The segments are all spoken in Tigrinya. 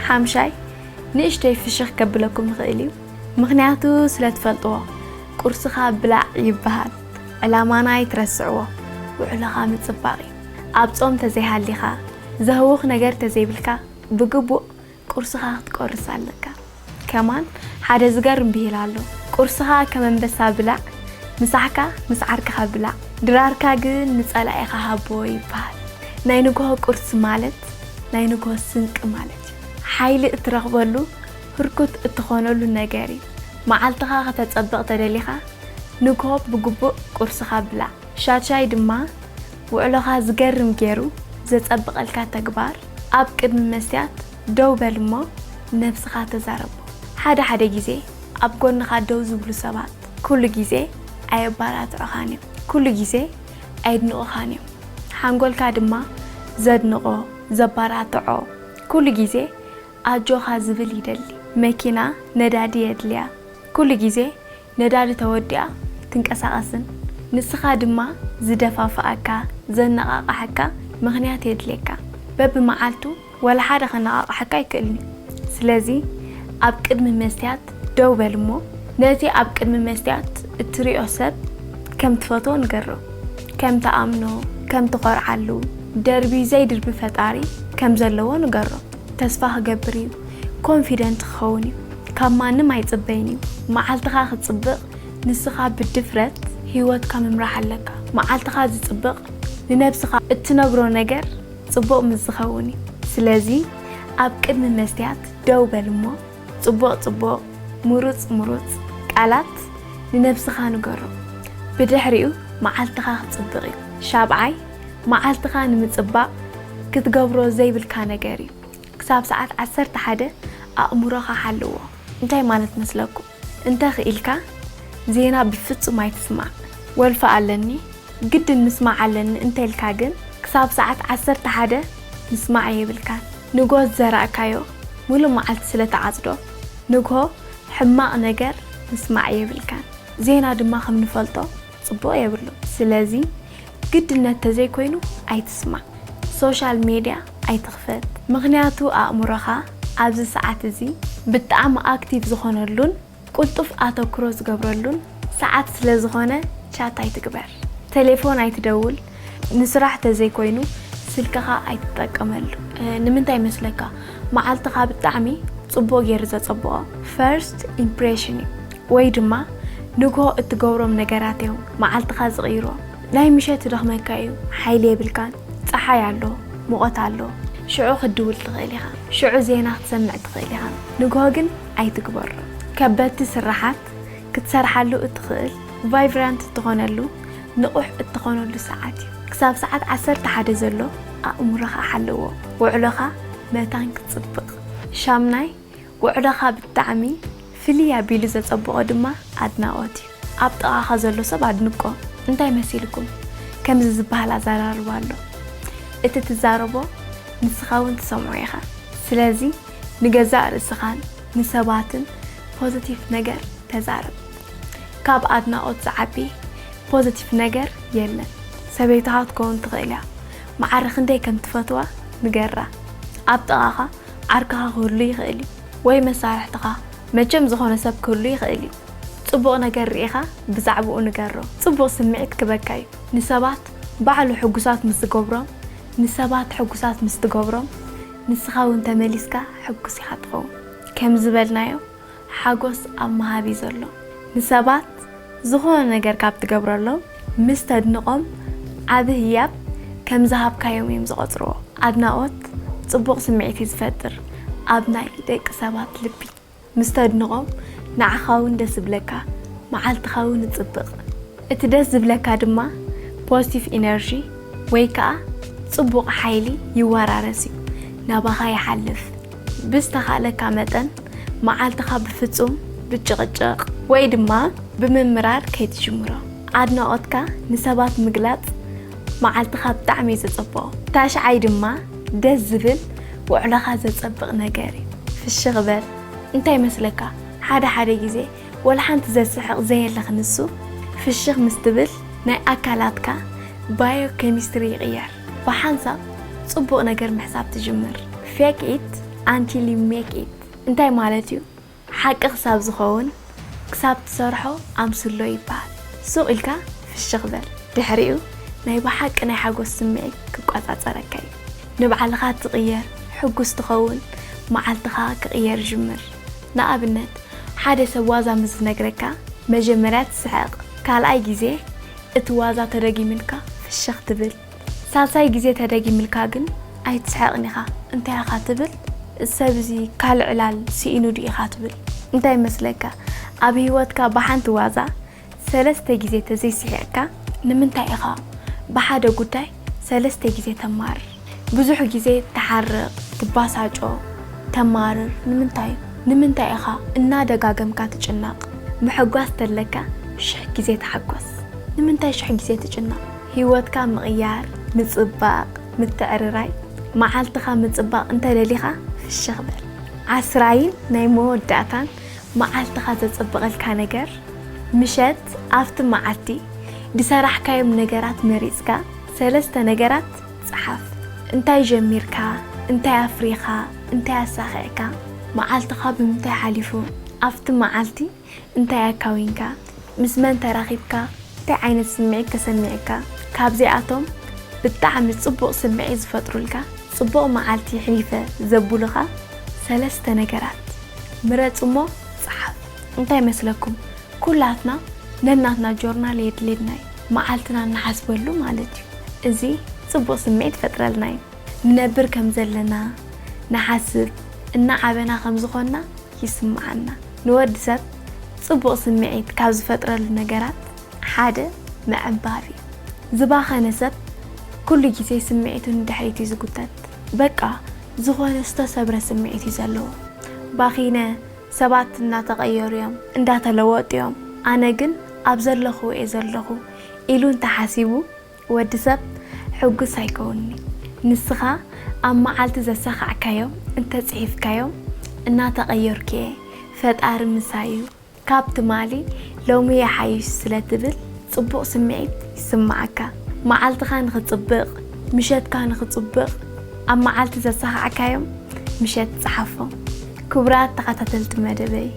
ሓምሻይ፣ ንእሽተይ ፍሽኽ ከብለኩም ይኽእል እዩ፣ ምኽንያቱ ስለ ትፈልጥዎ። ቁርስኻ ብላዕ ይብሃል፣ ዕላማና ኣይትረስዕዎ። ውዕሎኻ ምጽባቕ እዩ። ኣብ ጾም ተዘይሃሊኻ፣ ዘህውኽ ነገር ተዘይብልካ፣ ብግቡእ ቁርስኻ ክትቆርስ ኣለካ። ከማን ሓደ ዝገርም ብሂል ኣሎ ቁርስኻ ከም ኣንበሳ ብላዕ ምሳሕካ ምስ ዓርክኻ ብላዕ ድራርካ ግን ንጸላኢኻ ሃቦ ይብሃል ናይ ንግሆ ቁርሲ ማለት ናይ ንግሆ ስንቂ ማለት እዩ ሓይሊ እትረኽበሉ ህርኩት እትኾነሉ ነገር እዩ መዓልትኻ ከተጸብቕ ተደሊኻ ንግሆ ብግቡእ ቁርስኻ ብላዕ ሻድሻይ ድማ ውዕሎኻ ዝገርም ጌሩ ዘጸብቐልካ ተግባር ኣብ ቅድሚ መስትያት ደው በል እሞ ነብስኻ ተዛረቦ። ሓደ ሓደ ግዜ ኣብ ጎንኻ ደው ዝብሉ ሰባት ኩሉ ግዜ ኣየባራትዑኻን እዮም። ኩሉ ግዜ ኣየድንቑኻን እዮም። ሓንጎልካ ድማ ዘድንቖ፣ ዘባራትዖ፣ ኩሉ ግዜ ኣጆኻ ዝብል ይደሊ። መኪና ነዳዲ የድልያ። ኩሉ ግዜ ነዳዲ ተወዲኣ ኣይትንቀሳቐስን። ንስኻ ድማ ዝደፋፍኣካ፣ ዘነቓቕሓካ ምኽንያት የድልየካ። በብመዓልቱ ዋላ ሓደ ከነቓቕሓካ ኣይክእልን'ዩ። ስለዚ ኣብ ቅድሚ መስትያት ደው በል እሞ ነቲ ኣብ ቅድሚ መስትያት እትሪኦ ሰብ ከም ትፈትዎ ንገሮ። ከም ትኣምኖ፣ ከም ትኾርዓሉ፣ ደርቢ ዘይድርቢ ፈጣሪ ከም ዘለዎ ንገሮ። ተስፋ ክገብር እዩ ኮንፊደንት ክኸውን እዩ ካብ ማንም ኣይጽበይን እዩ መዓልትኻ ክጽብቕ ንስኻ ብድፍረት ህይወትካ ምምራሕ ኣለካ መዓልትኻ ዝጽብቕ ንነብስኻ እትነግሮ ነገር ጽቡቕ ምስ ዝኸውን እዩ ስለዚ ኣብ ቅድሚ መስትያት ደው በል እሞ ጽቡቕ ጽቡቕ ምሩጽ ምሩጽ ቃላት ንነብስኻ ንገሮ ብድሕሪኡ መዓልትኻ ክጽብቕ እዩ ሻብዓይ መዓልትኻ ንምጽባቕ ክትገብሮ ዘይብልካ ነገር እዩ። ክሳብ ሰዓት ዓሰርተ ሓደ ኣእምሮኻ ሓልዎ። እንታይ ማለት መስለኩም? እንተ ክኢልካ ዜና ብፍጹም ኣይትስማዕ። ወልፊ ኣለኒ፣ ግድን ምስማዕ ኣለኒ እንተልካ ግን ክሳብ ሰዓት ዓሰርተ ሓደ ምስማዕ የብልካን። ንግሆ ዝዘራእካዮ ምሉእ መዓልቲ ስለ ትዓጽዶ፣ ንግሆ ሕማቕ ነገር ምስማዕ የብልካን። ዜና ድማ ከም ንፈልጦ ጽቡቕ የብሉን። ስለዚ ግድነት ተዘይኮይኑ ኣይትስማዕ ሶሻል ሜድያ ኣይትኽፈት ምኽንያቱ ኣእምሮኻ ኣብዚ ሰዓት እዚ ብጣዕሚ ኣክቲቭ ዝኾነሉን ቁልጡፍ ኣተኩሮ ዝገብረሉን ሰዓት ስለዝኾነ ቻት ኣይትግበር ቴሌፎን ኣይትደውል ንስራሕ ተዘይኮይኑ ስልክኻ ኣይትጠቀመሉ። ንምንታይ ይመስለካ መዓልትኻ ብጣዕሚ ፅቡቅ ገይሩ ዘፀብቆ ፈርስት ኢምፕሬሽን እዩ። ወይ ድማ ንግሆ እትገብሮም ነገራት እዮም መዓልትኻ ዝቕይሮ። ናይ ምሸት ይደኽመካ እዩ፣ ሓይሊ የብልካን፣ ጸሓይ ኣሎ፣ ሙቐት ኣሎ፣ ሽዑ ክትድውል ትኽእል ኢኻ፣ ሽዑ ዜና ክትሰምዕ ትኽእል ኢኻ፣ ንግሆ ግን ኣይትግበሮ። ከበድቲ ስራሓት ክትሰርሓሉ እትኽእል፣ ቫይቭራንት እትኾነሉ፣ ንቑሕ እትኾነሉ ሰዓት እዩ። ክሳብ ሰዓት ዓሰርተ ሓደ ዘሎ ኣእምሮኻ ሓልዎ፣ ውዕሎኻ መታን ክትጽብቕ። ሻምናይ፣ ውዕዶኻ ብጣዕሚ ፍልይ ኣቢሉ ዘጸብቆ ድማ ኣድናቆት እዩ ኣብ ጥቃኻ ዘሎ ሰብ ኣድንቆ እንታይ መሲልኩም ከምዚ ዝበሃል ኣዛራርባ ኣሎ እቲ ትዛረቦ ንስኻ ውን ትሰምዖ ኢኻ ስለዚ ንገዛእ ርእስኻን ንሰባትን ፖዘቲቭ ነገር ተዛረብ ካብ ኣድናቆት ዝዓቢ ፖዘቲቭ ነገር የለን ሰበይትኻ ክትከውን ትኽእል እያ መዓረ ክንደይ ከም ትፈትዋ ንገራ ኣብ ጥቃኻ ዓርክኻ ክህሉ ይኽእል እዩ ወይ መሳርሕትኻ፣ መቸም ዝኾነ ሰብ ክህሉ ይኽእል እዩ። ጽቡቕ ነገር ርኢኻ ብዛዕብኡ ንገሮ። ጽቡቕ ስምዒት ክበካ እዩ። ንሰባት ባዕሉ ሕጉሳት ምስ ዝገብሮም፣ ንሰባት ሕጉሳት ምስ ትገብሮም፣ ንስኻ እውን ተመሊስካ ሕጉስ ኢኻ ትኸውን። ከም ዝበልናዮ፣ ሓጎስ ኣብ ምሃብ እዩ ዘሎ። ንሰባት ዝኾነ ነገር ካብ ትገብረሎም ምስ ተድንቖም ዓቢ ህያብ ከም ዝሃብካዮም እዮም ዝቖጽርዎ። ኣድናቖት ጽቡቕ ስምዒት እዩ ዝፈጥር ኣብ ናይ ደቂ ሰባት ልቢ። ምስ ተድንቖም ንዓኻ'ውን ደስ ይብለካ መዓልትኻ'ውን ይጽብቕ። እቲ ደስ ዝብለካ ድማ ፖዝቲቭ ኢነርጂ ወይ ከኣ ጽቡቕ ሓይሊ ይወራረስ እዩ ናባኻ ይሓልፍ። ብዝተኻእለካ መጠን መዓልትኻ ብፍጹም ብጭቕጭቕ ወይ ድማ ብምምራር ከይትጅምሮ። ኣድናቖትካ ንሰባት ምግላጽ መዓልትኻ ብጣዕሚ እዩ ዘጸብቖ። ታሽዓይ ድማ ደስ ዝብል ውዕሎኻ ዘጸብቕ ነገር እዩ። ፍሽኽ በል። እንታይ ይመስለካ ሓደ ሓደ ግዜ ወላ ሓንቲ ዘስሕቕ ዘየለ ክንሱ ፍሽኽ ምስ ትብል ናይ ኣካላትካ ባዮ ኬሚስትሪ ይቕየር። ብሓንሳብ ጽቡቕ ነገር ምሕሳብ ትጅምር። Fake it until you make it እንታይ ማለት እዩ? ሓቂ ክሳብ ዝኸውን ክሳብ ትሰርሖ ኣምስሎ ይበሃል። ሱቕ ኢልካ ፍሽኽ በል። ድሕሪኡ ናይ ብሓቂ ናይ ሓጎስ ስምዒት ክቆጻጸረካ እዩ። ንባዕልኻ ትቕየር፣ ሕጉስ ትኸውን፣ መዓልትኻ ክቕየር ይጅምር። ንኣብነት ሓደ ሰብ ዋዛ ምስ ዝነግረካ መጀመርያ ትስሕቕ፣ ካልኣይ ግዜ፣ እቲ ዋዛ ተደጊምልካ ፍሽኽ ትብል ሳልሳይ ግዜ ተደጊምልካ ግን ኣይትስሕቕን ኢኻ እንታይ ኢኻ ትብል እዚ ሰብ እዚ ካልእ ዕላል ስኢኑ ድዩ ኢኻ ትብል እንታይ መስለካ ኣብ ህይወትካ ብሓንቲ ዋዛ ሰለስተ ግዜ ተዘይስሒቕካ ንምንታይ ኢኻ ብሓደ ጉዳይ ሰለስተ ግዜ ተማርር ብዙሕ ግዜ ትሓርቕ፣ ትባሳጮ፣ ተማርር ንምንታይ? ንምንታይ ኢኻ እናደጋገምካ ትጭነቕ? ምሕጓስ ተለካ ሽሕ ግዜ ተሓጎስ። ንምንታይ ሽሕ ግዜ ትጭነቕ? ህይወትካ ምቕያር፣ ምጽባቕ፣ ምትዕርራይ፣ መዓልትኻ ምጽባቕ እንተደሊኻ ፍሽኽ በል። ዓስራይን ናይ መወዳእታን መዓልትኻ ዘጽብቐልካ ነገር፣ ምሸት ኣብቲ መዓልቲ ዝሰራሕካዮም ነገራት መሪጽካ ሰለስተ ነገራት ጸሓፍ። እንታይ ጀሚርካ፣ እንታይ ኣፍሪኻ፣ እንታይ ኣሳኺዕካ፣ መዓልትኻ ብምንታይ ሓሊፉ፣ ኣብቲ መዓልቲ እንታይ ኣካዊንካ፣ ምስ መን ተራኺብካ፣ እንታይ ዓይነት ስምዒት ተሰሚዑካ፣ ካብዚኣቶም ብጣዕሚ ጽቡቕ ስምዒት ዝፈጥሩልካ፣ ጽቡቕ መዓልቲ የሕሊፈ ዘብሉኻ ሰለስተ ነገራት ምረጽ እሞ ጸሓፍ። እንታይ መስለኩም ኩላትና ነናትና ጆርናል የድልየና እዩ። መዓልትና እንሓስበሉ ማለት እዩ። እዚ ጽቡቕ ስምዒት ይፈጥረልና እዩ። ንነብር ከም ዘለና ንሓስብ፣ እናዓበና ከም ዝኾንና ይስምዓና። ንወዲ ሰብ ጽቡቕ ስምዒት ካብ ዝፈጥረሉ ነገራት ሓደ ምዕንባብ እዩ። ዝባኸነ ሰብ ኩሉ ግዜ ስምዒቱ ንድሕሪት እዩ ዝጉተት። በቃ ዝኾነ ዝተሰብረ ስምዒት እዩ ዘለዎ። ባኺነ ሰባት እናተቐየሩ እዮም፣ እንዳተለወጡ እዮም፣ ኣነ ግን ኣብ ዘለኹዎ እየ ዘለኹ ኢሉ እንተሓሲቡ ወዲ ሰብ ሕጉስ ኣይከውንን እዩ። ንስኻ ኣብ መዓልቲ ዘሳኻዕካዮም እንተጽሒፍካዮም እናተቐየርኩ እየ፣ ፈጣሪ ምሳይ እዩ፣ ካብ ትማሊ ሎሚ ይሓይሽ ስለ ትብል ጽቡቕ ስምዒት ይስመዓካ። መዓልትኻ ንኽጽብቕ፣ ምሸትካ ንኽጽብቕ ኣብ መዓልቲ ዘሳኻዕካዮም ምሸት ጽሓፎም። ክቡራት ተኸታተልቲ መደበይ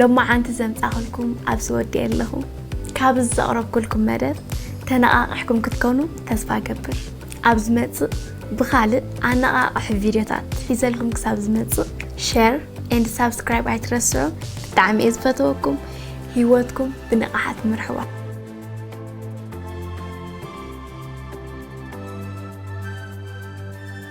ሎማዓንቲ ዘምጻኹልኩም ኣብዚ ወዲኤ ኣለኹ። ካብ እዚ ዘቕረብኩልኩም መደብ ተነቓቒሕኩም ክትኮኑ ተስፋ እገብር። ኣብ ዝመጽእ ብኻልእ ኣነቓቓሒ ቪድዮታት ሒዘልኩም ክሳብ ዝመጽእ ሸር ኤንድ ሳብስክራይብ ኣይትረስዑ። ብጣዕሚ እየ ዝፈትወኩም። ህይወትኩም ብንቕሓት ምርሕዋ።